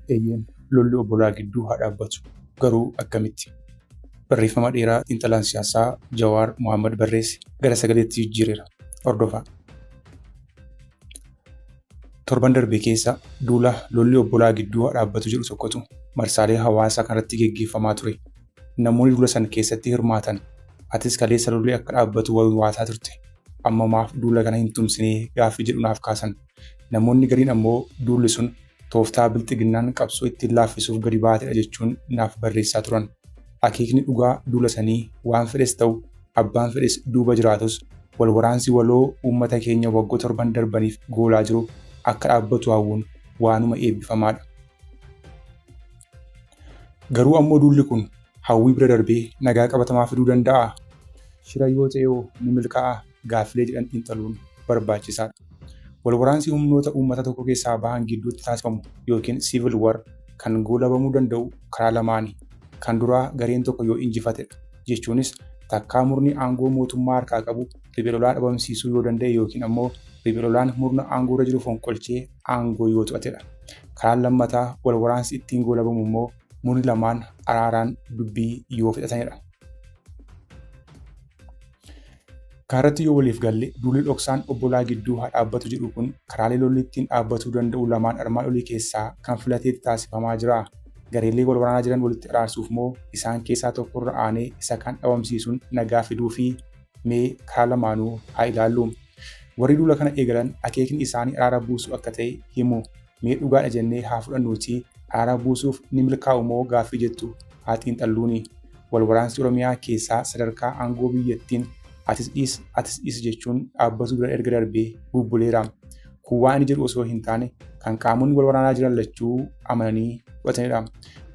Eeyyeen lolli obbolaa gidduu haa dhaabbatu. Garuu akkamitti? Barreeffama dheeraa xiinxalaan siyaasaa Jawaar Mohaammed barreesse gara sagaleetti jijjiireera. Hordofaa. Torban darbe keessa duula lolli obbolaa gidduu dhaabbatu jedhu tokkotu marsaalee hawaasaa kanarratti geggeeffamaa ture. Namoonni duula san keessatti hirmaatan atis kaleessa lolli akka dhaabbatu wal waataa turte. Amma maaf duula kana hin tumsinee gaaffii jedhu naaf kaasan. Namoonni gariin ammoo duulli sun tooftaa bilxiginnaan qabsoo ittiin laaffisuuf gadi baatedha jechuun naaf barreessaa turan. Akeekni dhugaa duula sanii waan fedhes ta'u abbaan fedhes duuba jiraatus wal waraansi waloo uummata keenya waggoo torban darbaniif goolaa jiru akka dhaabbatu hawwuun waanuma eebbifamaa dha. Garuu ammoo duulli kun hawwii bira darbee nagaa qabatamaa fiduu danda'aa? Shira yoo ta'e hoo ni milkaa'aa? gaaffilee jedhan xiinxaluun barbaachisaadha. Wal waraansi humnoota uummata tokko keessaa bahan gidduutti taasifamu yookiin civil war kan goolabamuu danda'u karaa lamaani. Kan duraa gareen tokko yoo injifatedha. Jechuunis takkaa murni aangoo mootummaa harkaa qabu riphee lolaa dhabamsiisuu yoo danda'e yookiin ammoo riphee lolaan murna aangoorra jiru fonqolchee aangoo yoo to'atedha. Karaan lammataa wal waraansi ittiin goolabamu immoo murni lamaan araaraan dubbii yoo fixatanidha. Kaaratti yoo waliif galle duulli dhoksaan obbolaa gidduu haa dhaabbatu jedhu kun karaalee lolli ittiin dhaabbatuu danda'u lamaan armaan olii keessaa kan filateeti taasifamaa jira. Gareelee wal waraanaa jiran walitti araarsuuf moo isaan keessaa tokko irra aanee isa kaan dhabamsiisuun nagaa fiduufi? Mee karaa lamaanuu haa ilaallu. Warri duula kana eegalan akeekni isaanii araara buusuu akka ta'e himu. Mee dhugaadha jennee haa fudhannuutii araara buusuuf ni milkaa'u moo gaaffii jettu haa xiinxalluuni. Wal waraansi Oromiyaa keessaa sadarkaa aangoo biyyattiin atis dhiis atis dhiis jechuun dhaabbatuu bira erga darbee bubbuleera. Kun waan ani jedhu osoo hin taane kan qaamonni wal waraanaa jiran lachuu amananii fudhatanidha.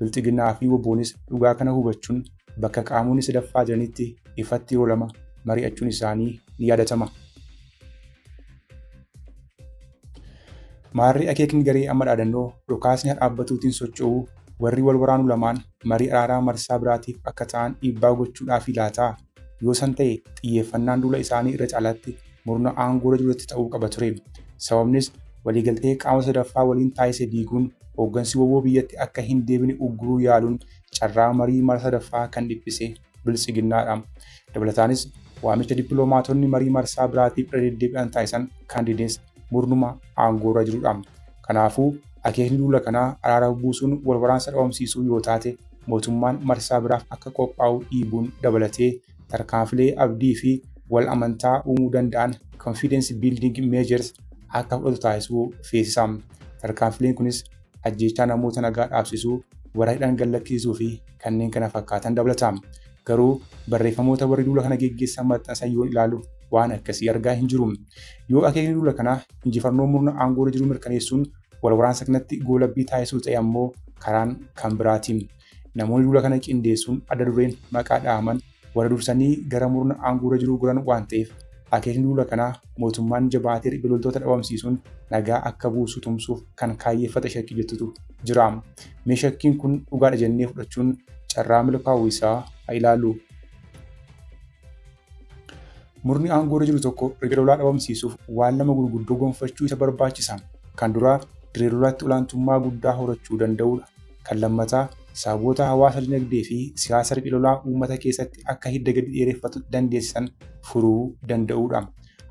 Bilxiginnaa fi WBOnis dhugaa kana hubachuun bakka qaamonni sadaffaa jiranitti ifatti yeroo lama mari'achuun isaanii ni yaadatama. Maarree akeekni garee amma dhaadannoo dhukaasni haa dhaabbatuutiin socho'uu warri wal waraanu lamaan marii araaraa marsaa biraatiif akka ta'an dhiibbaa gochuudhaafi laataa? Yoo san ta'e xiyyeeffannaan duula isaanii irra caalaatti murna aangoorra jirutti ta'uu qaba ture. Sababnis waliigaltee qaama sadaffaa waliin taasise diiguun hooggansi wbo biyyatti akka hin deebine ugguruu yaaluun carraa marii mara sadaffaa kan dhiphise biltsiginnaadha. Dabalataanis waamicha dippiloomaatonni marii marsaa biraatiif irra deddeebi'an taasisan kaandidees murnuma aangoorra jirudha. Kanaafuu akeekni duula kanaa araara buusuun wal waraansa dhabamsiisuu yoo taate mootummaan marsaa biraaf akka qophaa'u dhiibuun dabalatee tarkaanfilee abdii fi wal amantaa uumuu danda'an confidence building measures akka fudhatu taasisuu feesisa. Tarkaanfileen kunis ajjeechaa namoota nagaa dhaabsisuu, warra hidhan gallakkisiisuu fi kanneen kana fakkaatan dabalata. Garuu barreeffamoota warri duula kana geggeessan maxxansan yoon ilaalu waan akkasii argaa hin jiru. Yoo akeekni duula kanaa injifannoo murna aangoorra jiru mirkaneessuun wal waraansa kanatti goolabbii taasisuu ta'e ammoo karaan kan biraati. Namoonni duula kana qindeessuun adda dureen maqaa dhahaman warra dursanii gara murna aangoorra jiruu goran waan ta'eef akeekni duula kanaa mootummaan jabaatee riphee loltoota dhabamsiisuun nagaa akka buusu tumsuuf kan kaayyeffate shakkii jettutu jira. Mee shakkiin kun dhugaadha jennee fudhachuun carraa milkaa'uu isaa haa ilaallu. Murni aangoorra jiru tokko riphee lolaa dhabamsiisuuf waan lama gurguddoo gonfachuu isa barbaachisa. Kan duraa dirree lolaatti olaantummaa guddaa horachuu danda'uudha. Kan lammataa, sababoota hawaasa dinagdee fi siyaasa riphee lolaa uummata keessatti akka hidda gadi dheereffatu dandeessisan furuu danda'uu dha.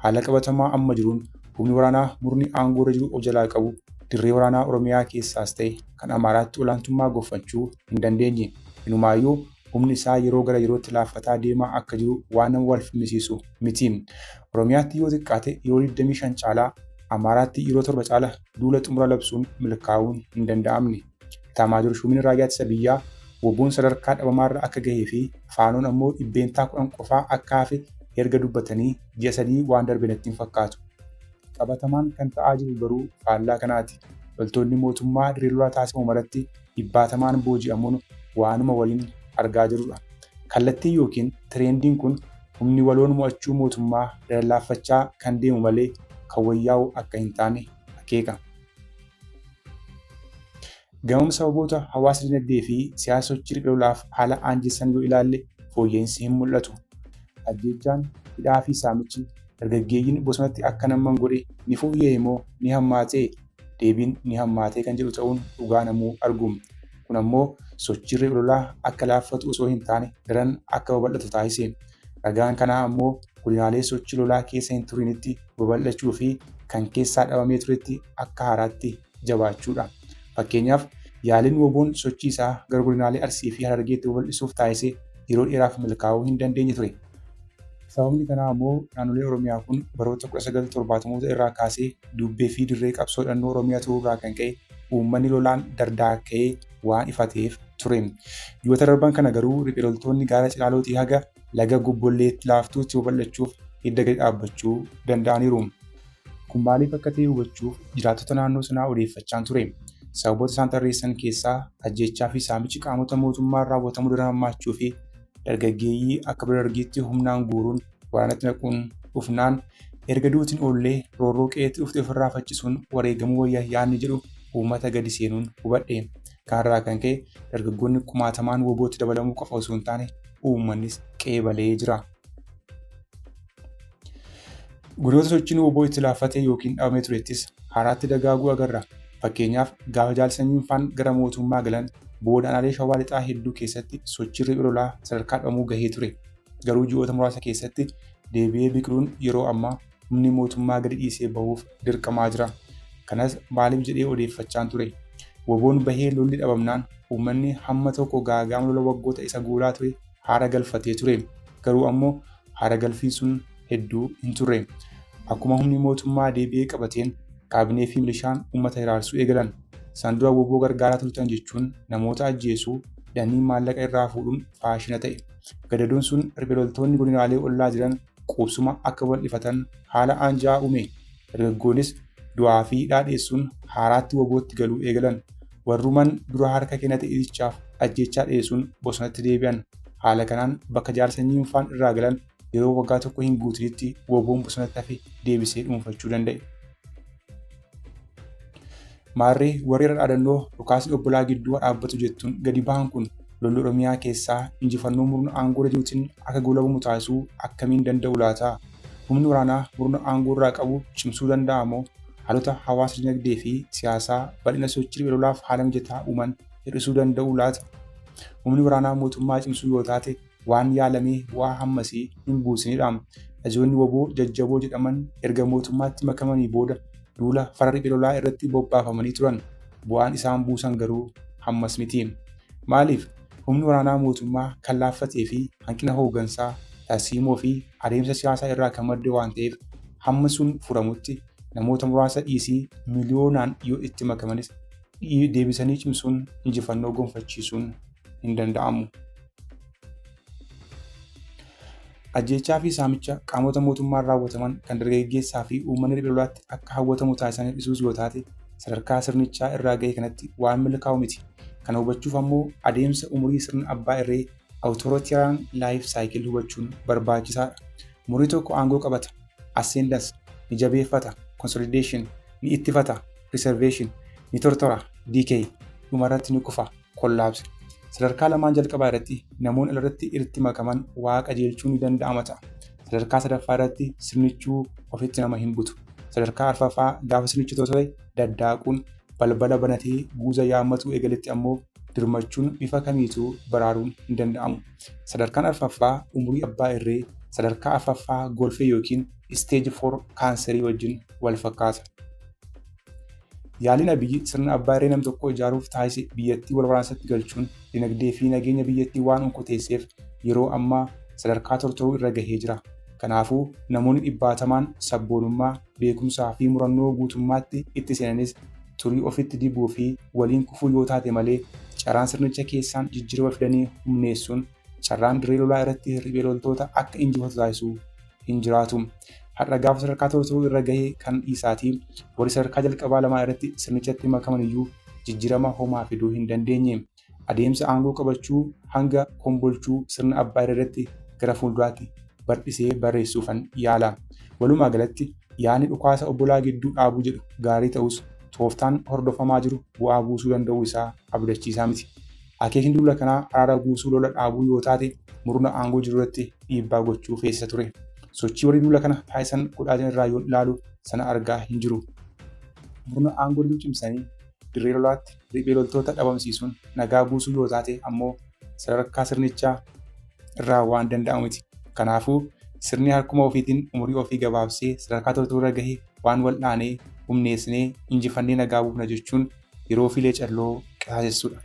Haala qabatamaa amma jiruun humni waraanaa murni aangoo irra jiru of jalaa qabu dirree waraanaa Oromiyaa keessaas ta'e kan Amaaraatti olaantummaa gonfachuu hin dandeenye. Inumaayyuu humni isaa yeroo gara yerootti laaffataa deemaa akka jiru waan nama wal falmisiisu miti. Oromiyaatti yoo xiqqaate yeroo 25 caalaa, Amaaraatti yeroo 7 caala duula xumura labsuun milkaa'uun hin danda'amne. Itaamaajoor Shuumiin Raayyaa Ittisa Biyyaa Woboon sadarkaa dhabamaarra akka gahee fi Faanoon ammoo dhibbeentaa kudhan qofaa akka hafe erga dubbatanii ji'a sadii waan darbe natti hin fakkaatu. Qabatamaan kan ta'aa jiru garuu faallaa kanaati. Loltoonni mootummaa dirree lolaa taasifamu maratti dhibbaatamaan booji'amuun waanuma waliin argaa jirudha. Kallattiin yookiin tireendiin kun humni waloon mo'achuu mootummaa irra laaffachaa kan deemu malee kan wayyaa'u akka hin taane akeeka. Gamam sababoota hawaasa dinagdee fi siyaasa sochii riphee lolaaf haala aanjessan yoo ilaalle fooyya'insi hin mul'atu. Ajjeechaan, hidhaa fi saamichi dargaggeeyyiin bosonatti akka namman godhe ni fooyya'e moo ni hammaate? deebiin ni hammaatee kan jedhu ta'uun dhugaa namuu argu. Kun ammoo sochiirri ololaa akka laaffatu osoo hin taane daran akka babal'atu taasise. Ragaan kanaa ammoo godinaalee sochii lolaa keessa hin turiinitti babal'achuu fi kan keessaa dhabamee turetti akka haaraatti jabaachuudha. Fakkeenyaaf yaaliin woboon sochii isaa gara godinaalee Arsii fi Harargeetti babal'isuuf taasise yeroo dheeraaf milkaa'uu hin dandeenye ture. Sababni kanaa ammoo naannolee Oromiyaa kun baroota 1970moota irraa kaasee duubbee fi dirree qabsoo hidhannoo Oromiyaa turuu irraa kan ka'e uummanni lolaan dardaakka'ee waan ifateef ture. Ji'oota darban kana garuu riphee loltoonni gaara Cilaalootii haga laga Gobbolleetti laaftuutti babal'achuuf hidda gadi dhaabbachuu danda'aniiru. Kun maaliif akka ta'e hubachuuf jiraattota naannoo sanaa odeeffachaan ture. Sababoota isaan tarreessan keessaa ajjeechaa fi saamichi qaamota mootummaan raawwatamu daran hammaachuu fi dargaggeeyyii akka bara dargiitti humnaan guuruun waraanatti naquun dhufnaan erga duutiin oollee roorroo qe'eetti dhufte ofirraa faccisuun wareegamuu wayya yaadni jedhu uummata gadi seenuun hubadhe. Kanarraa kan ka'e dargaggoonni kumaatamaan wobootti dabalamuu qofa osoo hin taane uummannis qe'ee balee jira. Godoota sochiin woboo itti laaffatee yookiin dhabamee turettis haaraatti dagaaguu agarra. Fakkeenyaaf gaafa Jaal Sanyiin faan gara mootummaa galan booda aanaalee Shawaa Lixaa hedduu keessatti sochiin riphee lolaa sadarkaa dhabamuu gahee ture. Garuu ji'oota muraasa keessatti deebi'ee biqiluun yeroo ammaa humni mootummaa gadi dhiisee bahuuf dirqamaa jira. Kanas maaliif jedhee odeeffachaan ture. Woboon bahee lolli dhabamnaan uummanni hamma tokko gaaga'ama lola waggoota isa goolaa ture haara galfatee ture. Garuu ammoo haaragalfiin sun hedduu hin turre. Akkuma humni mootummaa deebi'ee qabateen kaabinee fi milishaan uummata hiraarsuu eegalan. Isaan dura woboo gargaaraa turtan jechuun namoota ajjeesuu, hidhanii maallaqa irraa fuudhuun faashina ta'e. Gadadoon sun riphee loltoonni godinaalee ollaa jiran quubsuma akka bal'ifatan haala aanja'aa uume. Dargaggoonis du'aa fi hidhaa dheessuun haaraatti wobootti galuu eegalan. Warruman dura harka kennate itichaaf ajjeechaa dhiyeessuun bosonatti deebi'an. Haala kanaan bakka jaarsa Nyinfaan irraa galan yeroo waggaa tokko hin guutinitti woboon bosonatti hafe deebisee dhuunfachuu danda'e. Maarree warri irra dhaadannoo dhukaasni obbolaa gidduu haa dhaabbatu jettuun gadi bahan kun lolli Oromiyaa keessaa injifannoo murna aangoorra jiruutiin akka goolabamu taasisuu akkamiin danda'u laata? Humni waraanaa murna aangoo irraa qabu cimsuu danda'a moo haalota hawaasa dinagdee fi siyaasaa bal'ina sochii riphee lolaaf haala mijataa uuman hir'isuu danda'u laata? Humni waraanaa mootummaa cimsuu yoo taate waan yaalamee bu'aa hammasii hin buusinidha. Ajoonni woboo jajjaboo jedhaman erga mootummaatti makamanii booda duula fara riphee lolaa irratti bobbaafamanii turan. Bu'aan isaan buusan garuu hammas miti. Maaliif? Humni waraanaa mootummaa kan laaffatee fi hanqina hooggansaa, tarsiimoo fi adeemsa siyaasaa irraa kan madde waan ta'eef hamma sun furamutti namoota muraasa dhiisii miliyoonaan yoo itti makamanis deebisanii cimsuun injifannoo gonfachiisuun hin danda'amu. Ajjeechaa fi saamicha qaamota mootummaan raawwataman kan dargaggeessaa fi uummanni riphee lolaatti akka hawwatamu taasisanii dhisuus yoo taate sadarkaa sirnichaa irraa ga'e kanatti waan milkaa'u miti. Kana hubachuuf ammoo adeemsa umurii sirna abbaa irree Authoritarian Life Cycle hubachuun barbaachisaadha. Murni tokko aangoo qabata, ascendance, ni jabeeffata, consolidation, ni ittifata, preservation, ni tortora, decay, dhumarratti ni kufa. Kollaabse. Sadarkaa lamaan jalqabaa irratti namoonni alarratti irratti makaman waa qajeelchuu ni danda'ama ta'a. Sadarkaa sadaffaa irratti sirnichuu ofitti nama hin butu. Sadarkaa arfaffaa gaafa sirnichi tosee daddaaquun balbala banatee guuza yaammatuu eegaletti ammoo dirmachuun bifa kamiituu baraaruun hin danda'amu. Sadarkaan arfaffaa umurii abbaa irree sadarkaa arfaffaa golfee yookiin isteeji foor kaanserii wajjin wal fakkaata. Yaaliin Abiyyi sirna abbaa irree nam tokkoo ijaaruuf taasise biyyattii wal waraansatti galchuun dinagdee fi nageenya biyyattii waan onkoteesseef yeroo ammaa sadarkaa tortoruu irra gahee jira. Kanaafuu namoonni dhibbaatamaan sabboonummaa, beekumsaa fi murannoo guutummaatti itti seenanis turii ofitti dibuu fi waliin kufuu yoo taate malee carraan sirnicha keessaan jijjiirama fidanii humneessuun carraan dirree lolaa irratti hirribee loltoota akka injifatu taasisu hin jiraatu. Har'a gaafa sadarkaa to'atuu irra gahe kan dhiisaatii warri sadarkaa jalqabaa lamaa irratti sirnichatti makaman iyyuu jijjiirama homaa fiduu hin dandeenye. Adeemsa aangoo qabachuu hanga kombolchuu sirna abbaa irratti gara fuulduraatti bardhisee barreessuufan yaala. Walumaa galatti yaadni dhukaasa obbolaa gidduu dhaabuu jedhu gaarii ta'us tooftaan hordofamaa jiru bu'aa buusuu danda'uu isaa abdachiisaa miti. Akeekni duula kanaa araara buusuu lola dhaabuu yoo taate murna aangoo jiru irratti dhiibbaa gochuu keessa ture. Sochii warri duula kana taasisan godhaa jiran irraa yoon ilaalu sana argaa hin jiru. Murna aangoo jiru cimsanii dirree lolaatti riphee loltoota dhabamsiisuun nagaa buusuu yoo taate ammoo sadarkaa sirnichaa irraa waan danda'amu miti. Kanaafuu sirni harkuma ofiitiin umurii ofii gabaabsee sadarkaa toltuu irra gahe waan wal'aanee humneessinee injifannee nagaa buufna jechuun yeroo fi leecalloo qisaasessudha.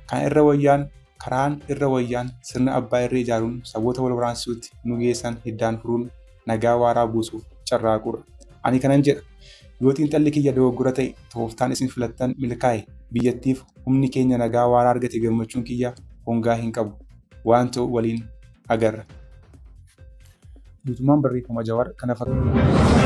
Kana irra wayyaan karaan irra wayyaan sirna abbaa irree ijaaruun saboota wal waraansisuutti nu geessan hiddaan furuun nagaa waaraa buusuuf carraaquudha. Ani kanan jedha, yoo xiinxalli kiyya dogoggora ta'e, tooftaan isin filattan milkaa'e, biyyattiif humni keenya nagaa waaraa argate gammachuun kiyya hongaa hin qabu. Waan ta'u waliin. agarra. Guutummaan barreeffama Jawaar kana fakkaata.